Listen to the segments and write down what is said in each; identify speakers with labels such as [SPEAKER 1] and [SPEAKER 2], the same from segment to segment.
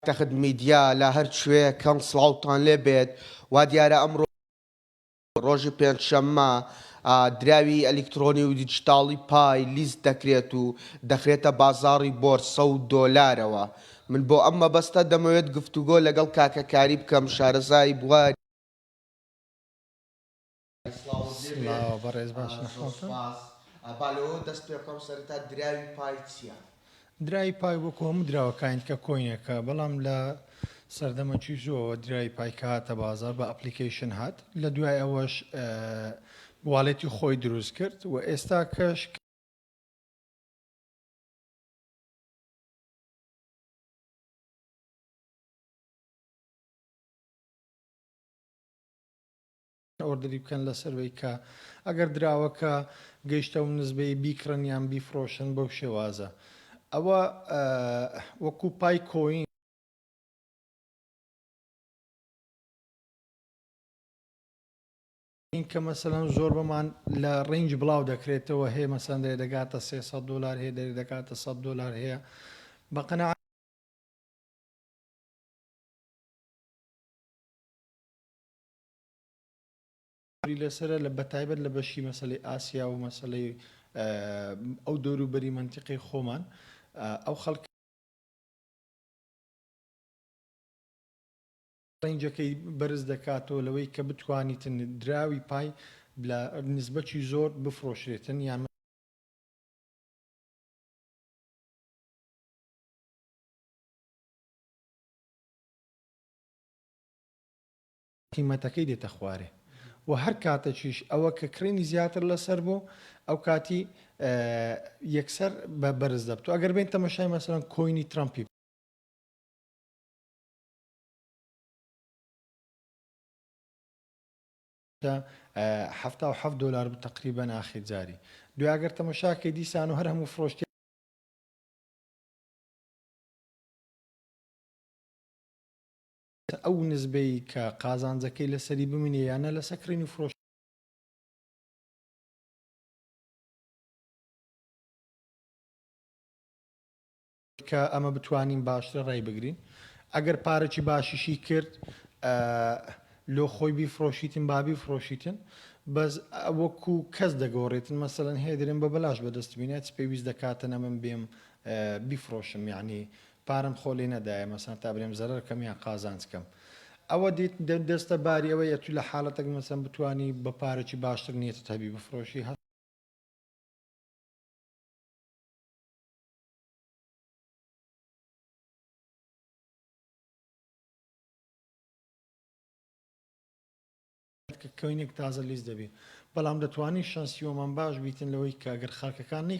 [SPEAKER 1] تەخت میدیا لە هەر کوێ کەن سڵاوتان لێ بێت وا دیارە ئەمڕۆ ڕۆژی پێنج شەممە دراوی ئەلیکترۆنی و دیجیتاڵی پای لیست دەکرێت و دەخرێتە بازاڕی بۆرسە و دۆلارەوە من بۆ ئەم مەبەستە دەمەوێت گفتوگۆ لەگەڵ کاکە کاری بکەم شارەزای بواری
[SPEAKER 2] سڵاو بەڕێز باش نە خەڵتە.
[SPEAKER 1] زۆر سوپاس با لەوەوە دەست پێ بکەم سەرەتا دراوی پای چیە؟
[SPEAKER 2] دراوی پای وەکو هەموو دراوەکانی دیکە کۆینێکە بەڵام لە سەردەمە جوزۆوە دراوی پای کە هاتە بازار بە ئەپلیکەیشن هات لە دوای ئەوەش واڵێتی خۆی دروست کرد و ئێستا کەش ئۆردری بکەن لەسەروەی کە ئەگەر دراوەکە گەیشتە ئەو نزبەی بیکڕن یان بیفڕۆشن بەو شێوازە ئەوە وەکو پای کۆین. کە مەسەلەن زۆر بەمان لە ڕینج بڵاو دەکرێتەوە هەیە مەسەن دەێ دەگاتە 300 دلار هەیە دەێ دەکاتە 100 دلار هەیە بەقەنا ی لەسەرە لە بەتایبەت لە بەشی مەسەلەی ئاسیا و مەسەلەی ئەو دەورو بەری مەنتیقەی خۆمان ئەو خەڵکە ڕەنجەکەی بەرز دەکاتەوە لەوەی کە بتوانیتن دراوی پای لە نسبەکی زۆر بفرۆشرێتن یان قیمەتەکەی دێتە خوارێ و هەر کاتەکیش ئەوە کە کڕینی زیاتر لەسەر بوو ئەو کاتی یەکسەر بە بەرز دەبتو ئەگەر بین تەمەشای مەسەرەن کۆینی ترامپی هەفتا و هەفت دلار بوو تقریبا ناخی جاری دوگەر تەمەشاکە دیسان و هەر هەموو فرۆشتی ئەو نسبەی کە قازانجەکەی لەسەری بمینێ یا نە لەسەر کڕین و فرۆش. کە ئەمە بتوانین باشترە ڕای بگرین ئەگەر پارەکی باشیشی کرد لۆ خۆی بیفرۆشیتن با بیفرۆشیتن بەس وەکو کەس دەگۆڕێتن مەسەەن هەیە درێن بە بەلاش بەدەست بینێت پێویست دەکاتن ئەمن بێم بیفرۆشم یعنی پارەم خۆ لێ نەدایە مەسەن تا برێم زەرەر کەم یان قازانج کەم ئەوە دیت دەستە باری ئەوە یە تو لە حالەتەک مەسەن بتوانی بە پارەکی باشتر نیەتت هەبی بفرۆشی هە کە کۆینێک تازە لیست دەبی بەڵام دەتوانی شەنسیۆمان باش بیتن لەوەی کە گەر خەرکەکان نەی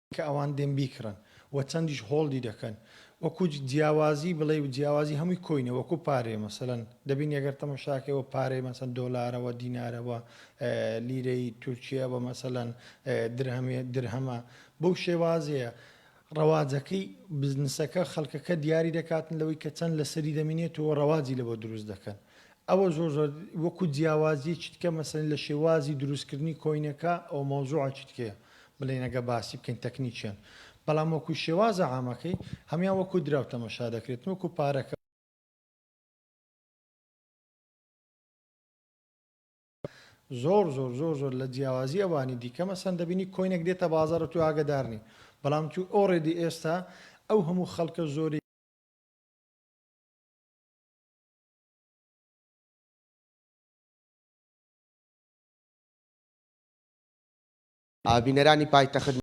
[SPEAKER 2] کە ئەوان دێن بیکڕن و چەندیش هۆڵدی دەکەن وەکو جیاوازی بڵێی و جیاوازی هەمووی کۆینە وەکو پارەیە مەسەلەن دەبینی ئەگەر تەماشاکەی وە پارەی مەسەن دۆلارە وە دینارە وە لیرەی تورکیە وە مەسەلەن درهەمی درهەمە بەو شێوازەیە ڕەواجەکەی بزنسەکە خەڵکەکە دیاری دەکاتن لەوەی کە چەند لەسەری دەمینێت و ڕەواجی لەوە دروست دەکەن ئەوە زۆر زۆر وەکو جیاوازیەکی تکە مەسەلەن لە شێوازی دروست کردنی کۆینەکە ئەوە مەوزوعەکی تکەیە بڵێین ئەگە باسی بکەین تەکنیکیان بەڵام وەکو شێوازە عامەکەی هەمیان وەکو دراو تەمەشا دەکرێت وەکو پارەکە زۆر زۆر زۆر زۆر لە جیاوازی ئەوانی دیکە مەسەن دەبینی کۆینێک دێتە بازارە تو ئاگدارنی بەڵام تو ئۆڕێدی ئێستا ئەو هەموو خەڵکە زۆری
[SPEAKER 1] بینەرانی پایتەخت